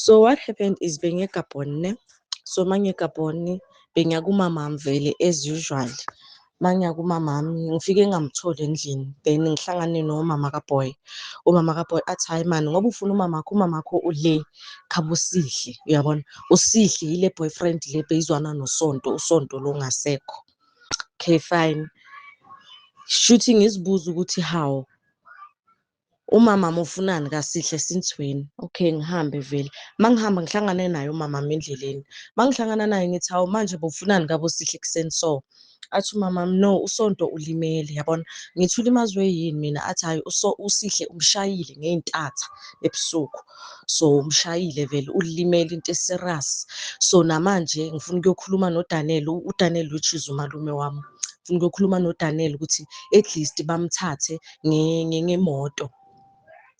So what happened is bengegabhoni ne so mangegabhoni bengiya kumamami vele as usual mangiya kumamami ngifike ngamtholi endlini then ngihlangane nomama kaboy umama kaboy athi hayi mani ngoba ufuna umamakho umamakho ule khaba usihle uyabona usihle yile boyfriend le beyizwana nosonto usonto lo ngasekho okay fine shuthi ngizibuza ukuthi how Umama mufunani kaSihle since when? Okay ngihambe vele. Mangihamba ngihlangane naye umama mi endleleni. Mangihlangana naye ngithi hawu manje bofunani kabo Sihle kuseni so. Athi umama no uSonto ulimele yabona. Ngithi ulimazwe yini mina athi hayi uso uSihle umshayile ngeintatha ebusuku. So umshayile vele ulimele into eserious. So namanje ngifuna ukuyokhuluma noDaniel uDaniel which is umalume wami. Ngifuna ukuyokhuluma noDaniel ukuthi at least bamthathe ngemoto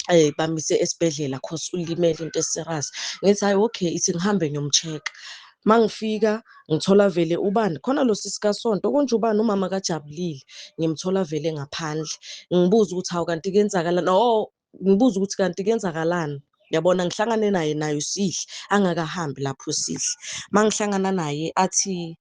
eh bamise esibhedlela cause ulimele into eserious ngithi hayi okay ithi ngihambe ngiyomcheck mangifika ngithola vele ubani khona lo sisi kasonto konje ubani umama kajabulile ngimthola vele ngaphandle ngibuza ukuthi hawu kanti kwenzakalani oh ngibuza ukuthi kanti kwenzakalani yabona ngihlangane naye naye usihle angakahambi lapho usihle mangihlangana naye athi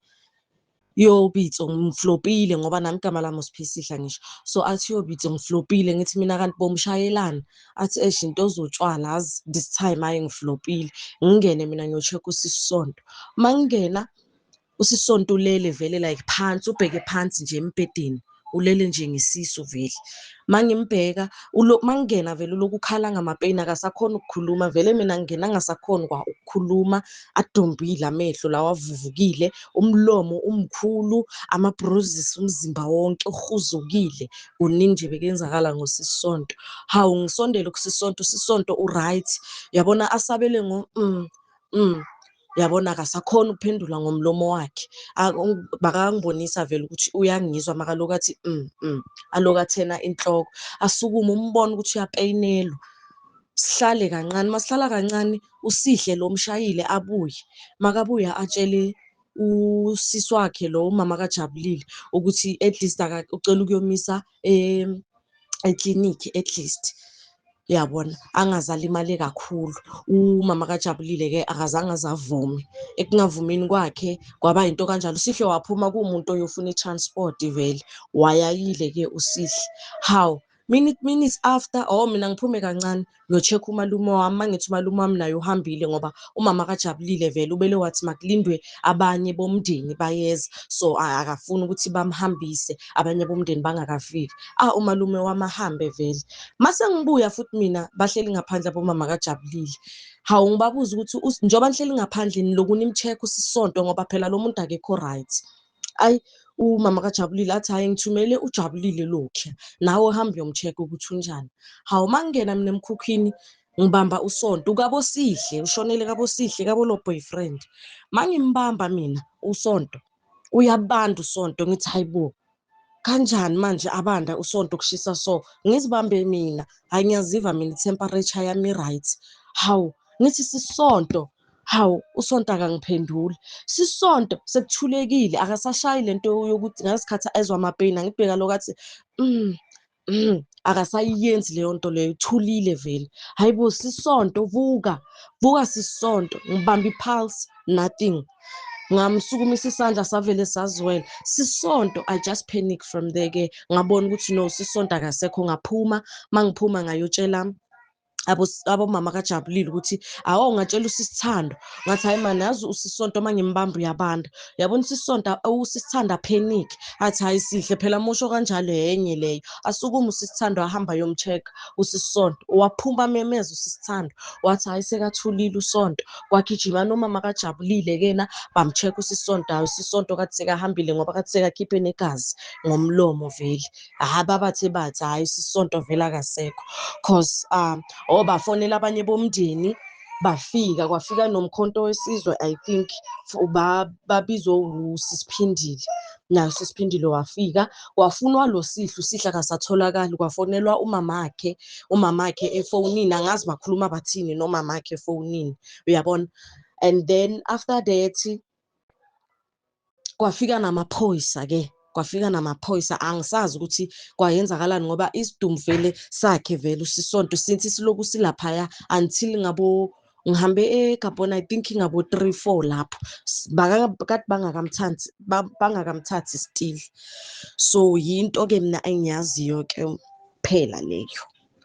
Yo Pitso ngiflopile ngoba nami igama lami uSiphisihla ngisho. So athi yo Pitso ngiflopile ngithi mina kanti bomshayelana. Athi esh into ozotshwala azi this time hayi ngiflopile. Ngingene mina ngiyocheck usisonto. Mangingena usisonto ulele vele like phansi ubheke phansi nje embhedeni. ulele nje ngesisu vele mangimbheka mangingena vele lokukhala ngamapeyini akasakhona ukukhuluma vele mina ngingena ngasakhona kwa ukukhuluma adombile amehlo lawa avuvukile umlomo umkhulu amabruises umzimba wonke uhuzukile kuningi nje bekenzakala ngosisonto hawu ngisondele kusisonto usisonto uright yabona asabele ngo mm, mm. yabona akasakhona ukuphendula ngomlomo wakhe bakangibonisa vele ukuthi uyangizwa makaloku athi mm, mm. aloku athena inhloko asukume umbone ukuthi uyapeyinelwa sihlale kancane masihlala kancane usihle lo mshayile abuye makabuya atshele usisi wakhe lo umama kajabulile ukuthi at least ucela ukuyomisa eklinikhi at least uyabona angazalimale kakhulu umama kajabulile-ke akazange azavume ekungavumini kwakhe kwaba yinto kanjalo usihle waphuma kuwumuntu oyofuna i-transport vele wayayile-ke usihle hawu minute minutes after oh mina ngiphume kancane ngiyocheck umalume wami mangithi umalume wami naye uhambile ngoba umama kajabulile vele ubele wathi makulindwe abanye bomndeni bayeza so akafuni ukuthi bamhambise abanye bomndeni bangakafiki ah umalume wami ahambe vele mase ngibuya futhi mina bahleli ngaphandle abomama kajabulile hawu ngibabuza ukuthi njengoba nihleli ngaphandle nilokhu nimcheck usisonto ngoba phela lo muntu akekho right ayi umama kajabulile athi hhayi ngithumele ujabulile lokhu nawe uhambe uyomcheck ukuthi unjani hawu uma ngingena mina emkhukhwini ngibamba usonto ukabosihle ushonele kabosihle kabolo boyfriend mangimbamba mina usonto uyabanda usonto ngithi hayibo kanjani manje abanda usonto kushisa so ngizibambe mina hayi ngiyaziva mina temperature yami right hawu ngithi sisonto hawu usonto akangiphenduli sisonto sekuthulekile akasashayi lento yokuthi ngasikhathi ezwa amapeyini angibheka lokho athi mm, mm, akasayiyenzi leyo nto leyo ithulile vele hayi bo sisonto vuka vuka sisonto ngibamba ipulse nothing ngamsukumisa isandla savele sazwela sisonto i just panic from there ke ngabona ukuthi no sisonto akasekho ngaphuma mangiphuma ngayotshela abomama kajabulile ukuthi awo ngatshela usisithando ngathi hayi mani yazi usisonto uma ngimbamba uyabanda uyabona usisonto usisithando apanic athi hayi sihle phela musho kanjalo yenye leyo asukume usisithando ahamba yomcheck usisonto waphuma memeza usisithando wathi hayi sekathulile usonto kwagijima nomama kajabulile kena bamcheck usisonto hayi usisonto kathi sekahambile ngoba kathi sekakhiphe negazi ngomlomo vele hayi babathe bathi hayi sisonto vele akasekho cause um or bafonela abanye bomndeni bafika kwafika nomkhonto wesizwe i think babizwe usisiphindile nayo sisiphindile wafika wafunwa lo sihlu sihle akasatholakali kwafonelwa umamakhe umamakhe efonini angazi bakhuluma bathini nomamakhe efonini uyabona and then after that kwafika namaphoyisa ke kwafika namaphoyisa angisazi ukuthi kwayenzakalani ngoba isidumu vele sakhe vele usisonto since siloku silaphaya until ngabo ngihambe egabhona i think ngabo three four lapho kade bangakamthathi bangakamthathi still so yinto-ke mna engiyaziyo-ke phela leyo.